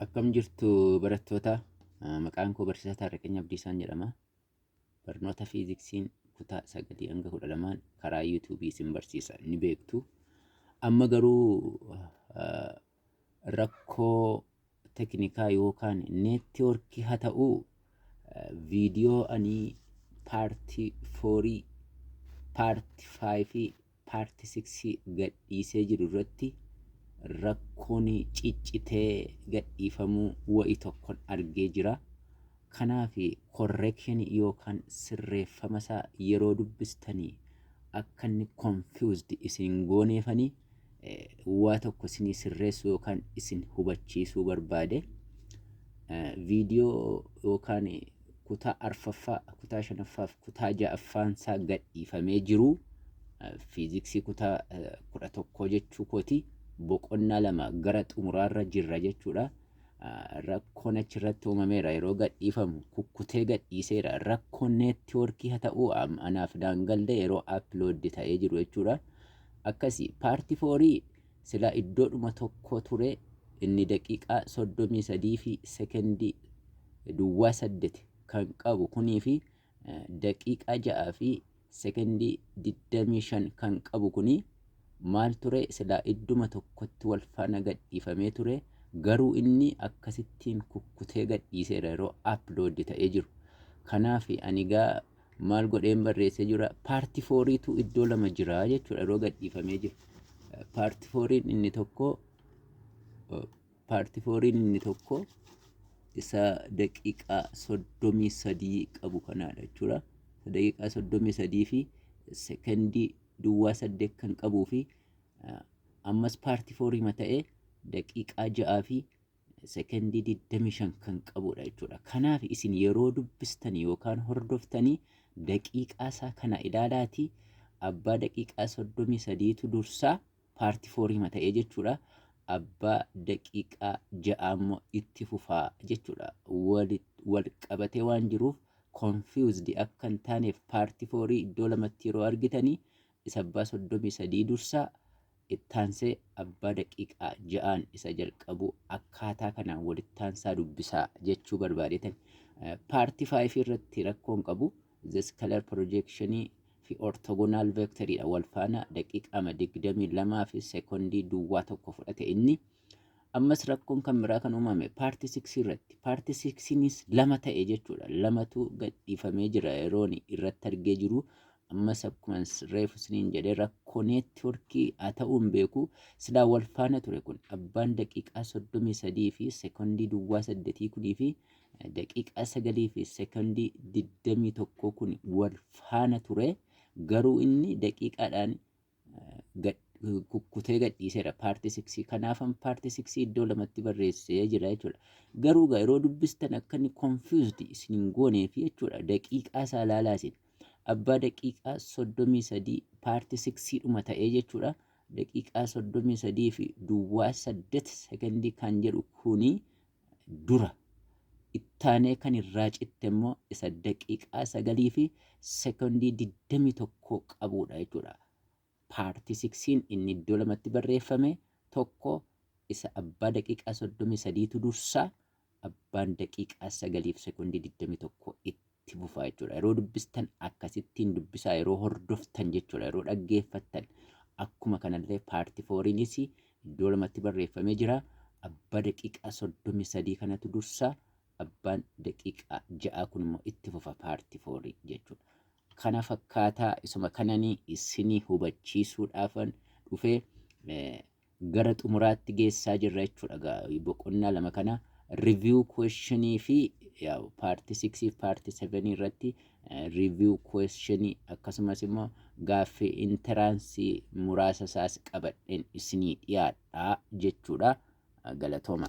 Akkam jirtu barattoota Ah, maqaan koo barsiisaa Taarraqanya Abdiisaan jedhama. Barnoota fiiziksiin kutaa sagalii hanga kudha lamaan karaa yuutuubii isin barsiisa ni beektu. Amma garuu ah, rakkoo teknikaa yookaan neettiwoorkii haa ta'uu ah, viidiyoo ani paartii foorii paarti faayifii part six gadhiisee jiru irratti rakkoon ciccitee gadhiifamuu wa'i tokkon argee jira. Kanaaf correction yookaan sirreeffama isaa yeroo dubbistani akka inni confused isin hin gooneefani waa tokko isinii sirreessuu yookaan isin hubachiisuu barbaade. Viidiyoo yookaan kutaa arfaffaa, kutaa shanaffaa fi kutaa ja'affaan isaa gadhiifamee jiru fiiziksii kutaa kudha tokkoo jechuu kooti boqonnaa lama gara xumuraarra jirra jechuudha. Rakkoon achirratti uumameera yeroo gadhiifamu kukkutee gadhiiseera rakkoon neettiwoorkii haa ta'uu anaaf daangalde yeroo appilooddi ta'ee jiru jechuudha. Akkasii paartii foorii Silaa iddoodhuma tokko ture inni daqiiqaa 33 fi sekondii duwwaa 8 kan qabu kunii fi daqiiqaa 6 fi sekondii 25 kan qabu kuni maal ture silaa idduma tokkotti wal faana gadhiifamee ture garuu inni akkasittiin kukkutee gadhiiseera yeroo upload ta'ee jiru. Kanaaf ani gaa maal godheen barreessee jira paarti fooriitu iddoo lama jira jechuudha yeroo gadhiifamee jiru paarti fooriin inni tokko paarti fooriin inni tokko isa daqiiqaa soddomii sadii qabu kanaadha jechuudha daqiiqaa soddomii sadii fi sekondii duwwaa saddeet kan qabuu fi ammas paarti fooriima ta'ee daqiiqaa ja'aa fi sekondii 25 kan qabudha jechuudha. Kanaaf isin yeroo dubbistan yookaan hordoftanii daqiiqaa isaa kana ilaalaatii abbaa daqiiqaa 33tu dursaa paarti fooriima ta'ee jechuudha. Abbaa daqiiqaa ja'a immoo itti fufaa jechuudha. Wal qabatee waan jiruuf confused akka hin taaneef paarti foorii iddoo lamatti yeroo argitanii isa abbaa 33 dursaa, ittaansee abbaa daqiiqaa 6n isa jalqabuu akkaataa kanaan walittaansaa dubbisaa jechuu barbaadeetan. Paartii 5 irratti rakkoon qabu zeskalar piroojeekshinii fi ortogonaal veekteriidha wal faana daqiiqaama 22 fi seekondii duwwaa tokko fudhate inni. Ammas rakkoon kan biraa kan uumame paartii 6 irratti paartii 6nis lama ta'e jechuudha lamatu gadhiifamee jira yeroon irratti argee jiru ammas akkuma reefu isiniin jedhee rakkoo neetworkii haa ta'uu hin beeku silaa wal faana ture kun abbaan daqiiqaa soddomii sadii fi sekondii duwwaa saddetii kunii fi daqiiqaa sagalii fi sekondii digdamii tokkoo kun wal faana ture garuu inni daqiiqaadhaan kukkutee gadhiiseera paartii siksii kanaafan paartii siksii iddoo lamatti barreessee jira jechuudha. Garuu egaa yeroo dubbistan akka inni confused isin hin gooneef jechuudha daqiiqaa isaa ilaalaa isin abbaa daqiiqaa soddomii sadii paartii siksii dhuma ta'ee jechuudha. Daqiiqaa soddomii sadii fi duwwaa saddet sekondii kan jedhu kuni dura. Ittaanee kan irraa citte immoo isa daqiiqaa sagalii fi sekondii digdamii tokko qabuudha jechuudha. Paartii siksiin inni iddoo lamatti barreeffame tokko isa abbaa daqiiqaa soddomii sadiitu dursa abbaan daqiiqaa sagaliif sekondii digdamii tokko itti. itti fufaa jechuudha. Yeroo dubbistan akkasittiin dubbisaa yeroo hordoftan jechuudha. Yeroo dhaggeeffattan akkuma kanallee paarti fooriinis iddoo lamatti barreeffamee jira. Abbaa daqiiqaa soddomii sadii kanatu dursa. Abbaan daqiiqaa ja'aa kun immoo itti fufa paarti foorii jechuudha. Kana fakkaataa isuma kananii isinii hubachiisuudhaafan dhufee gara xumuraatti geessaa jirra jechuudha egaa boqonnaa lama kana review question fi yaa'u paartii 6 fi paartii 7 irratti eh, review question akkasumas immoo gaaffii intaraansii muraasa isaas qabadheen isinii dhiyaadha jechuudha galatooma.